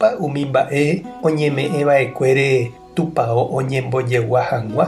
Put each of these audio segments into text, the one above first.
Ha umi mba'e oñeme'ẽ va'ekuére tupao oñembojegua hag̃ua.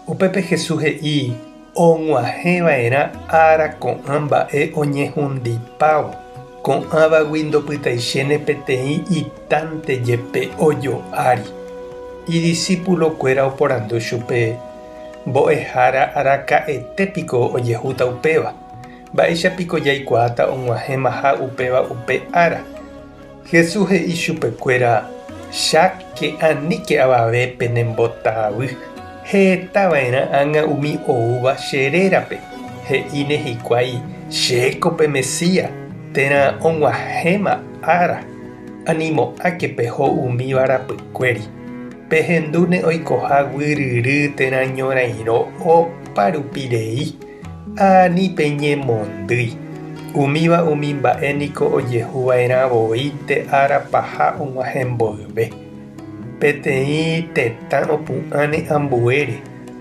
Upépe Jesús he'i og̃uahẽ va'erã ára ko'ã mba'e oñehundipávo, ko'ãvagui ndopytaichéne peteĩ itánte jepe ojo ári. Idisípulo kuéra oporandu chupe, Mbo'ehára araka'ete piko ojehúta upéva? Mba'éicha piko jaikuaáta og̃uahẽmaha upéva upe ára? Jesús he'i chupekuéra, Cháke, aníke avave pene mbota avy, heta va'erã ág̃a umi oúva che rérape, he'íne hikuái, Chéko pe Mesía, térã og̃uahẽma ára, animo'ãke peho umíva rapykuéri. Pehendúne oikoha guyryry térã ñorairõ opárupirei. Ha ani peñemondýi, umíva umi mba'e niko ojehu va'erã voi nde ára paha og̃uahẽ mboyve. Peteĩ tetã opu'ãne ambuére,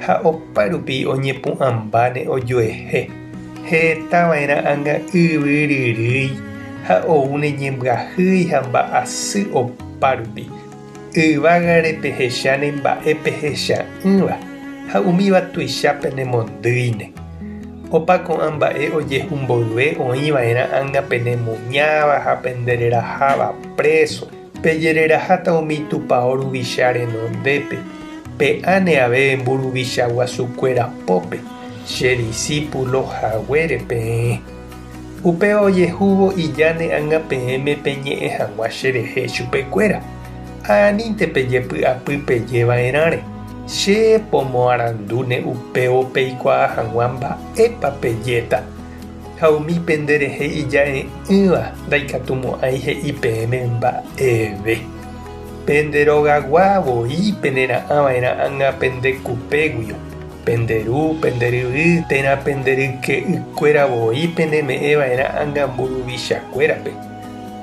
ha opa rupi oñepu'ãmbáne ojuehe, heta va'erã anga yvyryrýi ha oúne ñembyahýi ha mba'asy opa rupi. Yvágare pehecha ne mba'e pehecha'ỹva ha umíva tuicha penemondýine. Opa ko'ã mba'e ojehu mboyve oĩ va'erã ág̃a penemuñáva ha pendereraháva préso. Pejereraháta umi tupao ruvicha renondépe, pe áne aveve mburuvicha guasukuéra pópe, che disípulo haguére peẽ. Upéva ojehúvo ijáne ág̃a peẽme peñe'ẽ hag̃ua cherehe chupe kuéra, Anínte pejepy'apy peje va'erãre, Che pomoarandúne upévo peikuaa hag̃ua mba'épa pejéta. Ha umi pende rehe ija'e'ỹva ndaikatumo'ãi he'i peẽme mba'eve. Pende rogagua voi penera'ã va'erã ág̃a pende kupe guio. Pende ru, pende ryvy, térã pende ryke'ykuéra voi peneme'ẽ va'erã ánga mburuvichakuérape,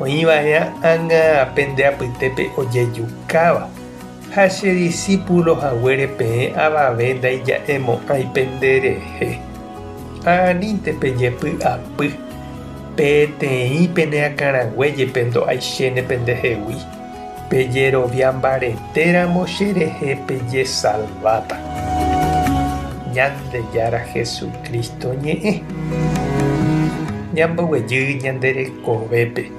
oĩ va'erã ánga pende apytépe ojejukáva. Ha che disípulo haguére peẽ avave ndaija'emo'ãi pende rehe. Ha anínte pejepy'apy, peteĩ pene akãrague jepe ndo'aichéne pendehegui. Pejerovia mbaretéramo cherehe pejesalváta. Ñandejára Jesucristo ñe'ẽ. Ñamboguejy ñande rekovépe.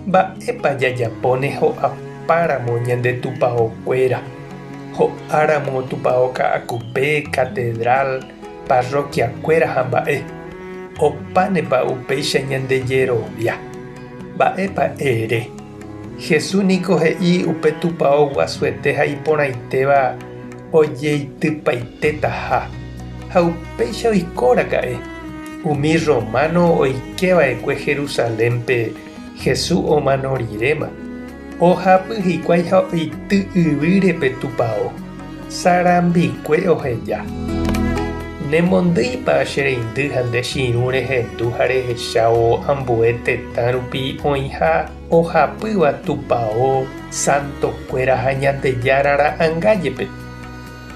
Mba'épa jajapóne ho'apáramo ñande tupaokuéra, ho'áramo tupao ka'akupe, catedral, parroquiakuéra ha mba'e? Opánepa upéicha ñandejerovia? Mba'épa ere? Jesús niko he'i upe tupao guasuete ha iporãitéva ojeitypaitétaha. Ha upéicha oikóraka'e. Umi rrománo oike va'ekue Jerusalénpe Jesús omano riréma. Ojapi hikuái ha oity yvýre pe tupao, sarambikue oheja. Nemondýipa che reindy ha nde chiru rehendu ha rehechávo ambue tetã rupi oĩha ojapýva tupao santokuéra ha Ñandejára ra'anga jepe?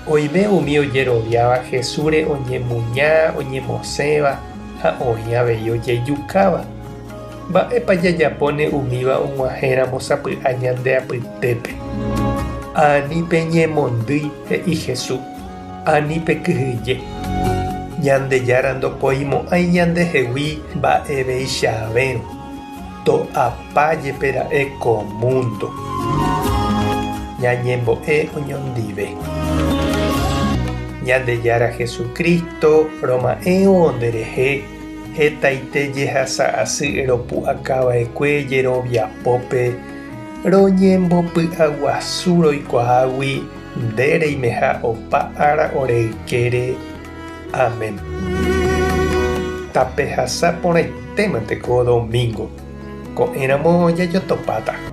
Oime umi ojeroviáva Jesúsre oñemuña, oñemosẽva ha oĩ avei ojejukáva. Mba'épa jajapóne umíva og̃uahẽramo sapy'a ñande apytépe? Ani peñemondýi, he'i Jesús, ani pekyhyje. Ñandejára ndopoimo'ãi ñandehegui mba'eveichavérõ. To'apa jepe ra'e ko múndo. Ñañembo'e oñondive. Ñandejára Jesucristo roma'ẽvo nderehe hetaite jehasa asy ropu'akava'ekue jerovia pópe roñembopy'aguasu roikuaágui nde reimeha opa ára ore ykére, Amén. Tapehasa porãitémante ko domingo, ko'ẽramo jajotopáta.